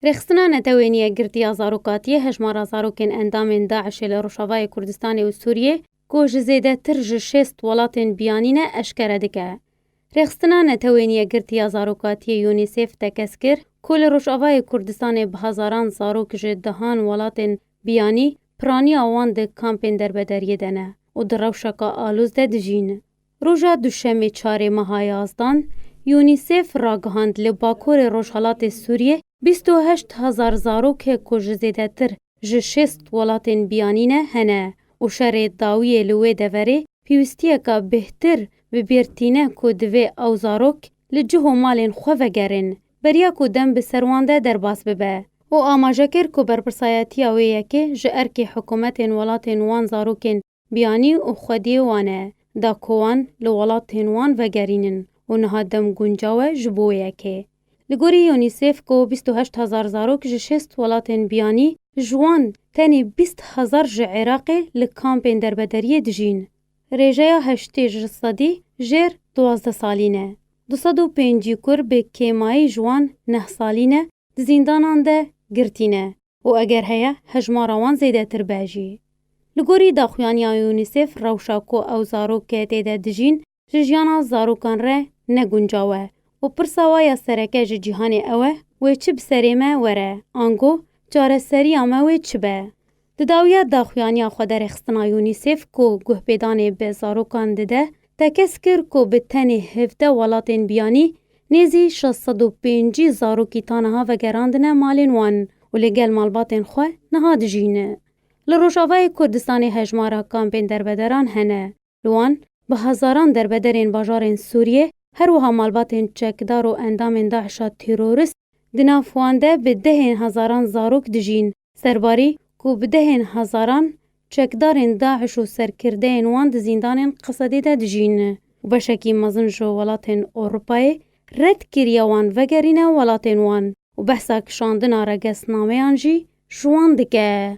Rêxistina Netewênî ya Girtî ya Zarokatîyê hejmara zarokên endamên DAIŞ'ê li Rojavayê Kurdistanê û Sûriyê ku ji zêdetir ji şêst welatên biyanî ne eşkere dike. Rêxistina Netewênî ya Girtî ya Zarokatîyê UNICEF tekez kir ku li Rojavayê Kurdistanê bi hezaran zarok ji dehan welatên biyanî piranîya wan di kampên derbederiyê de ne û di rewşeke alûz de dijîn. Roja Duşemê çarê meha Yazdan, UNICEF ragihand li bakurê rojhelatê Sûriyê bîst û heşt hezar zarokek ku ji zêdetir ji şêst welatên biyanî ne hene û şerê dawiyê li wê deverê pîwistiyeka bêhtir bi bîr tîne ku divê ew zarok li cih û malên xwe vegerin beriya ku dem bi ser wan de derbas bibe û amaje kir ku berpirsayetiya wê yekê ji erkê hikûmetên welatên wan zarokên Biyanî û xwediyê wan e, da ku wan li welatên wan vegerînin û niha dem guncaw e ji bo yekê. Li gorî UNICEF ku bîst û heşt hezar zarok ji şêst welatên biyanî, ji wan tenê bîst hezar ji Iraqê li kampên derbederiyê dijîn. Rêjeya heştê ji sedî jêr duwazdeh salî ne. Du sed û pêncî kur bi kêmayî ji wan neh salî ne di zîndanan de girtî ne û eger heye hejmara wan zêdetir be jî. Li gorî daxuyaniya UNICEF rewşa ku ew zarokê tê de dijîn ji jiyana zarokan re ne guncaw e û pirsa wa ya sereke ji cîhanê ew e wê çi bi serê me were ango çareseriya me wê çi be. Di dawiya daxuyaniya xwederêxistina UNICEF ku guhpêdanê bi zarokan dide, tekez kir ku bi tenê hevdeh welatên biyanî nêzî şeş sed û pêncî zarokî ta niha vegerandine malên wan û li gel malbatên xwe niha dijîn. Li Rojavayê Kurdistanê hejmara kampên derbederan hene. Li wan bi hezaran derbederên bajarên Sûriyê her wiha malbatên çekdar û endamên DAIŞ'a terorist, di nav wan de bi dehên hezaran zarok dijîn. Serbarî ku bi dehên hezaran çekdarên DAIŞ û serkirdeyên wan di zîndanên Qesedê de dijîn û beşekî mezin ji welatên Ewropayê red kiriye wan vegerîne welatên wan û behsa kişandina regesnameyan jî ji wan dike.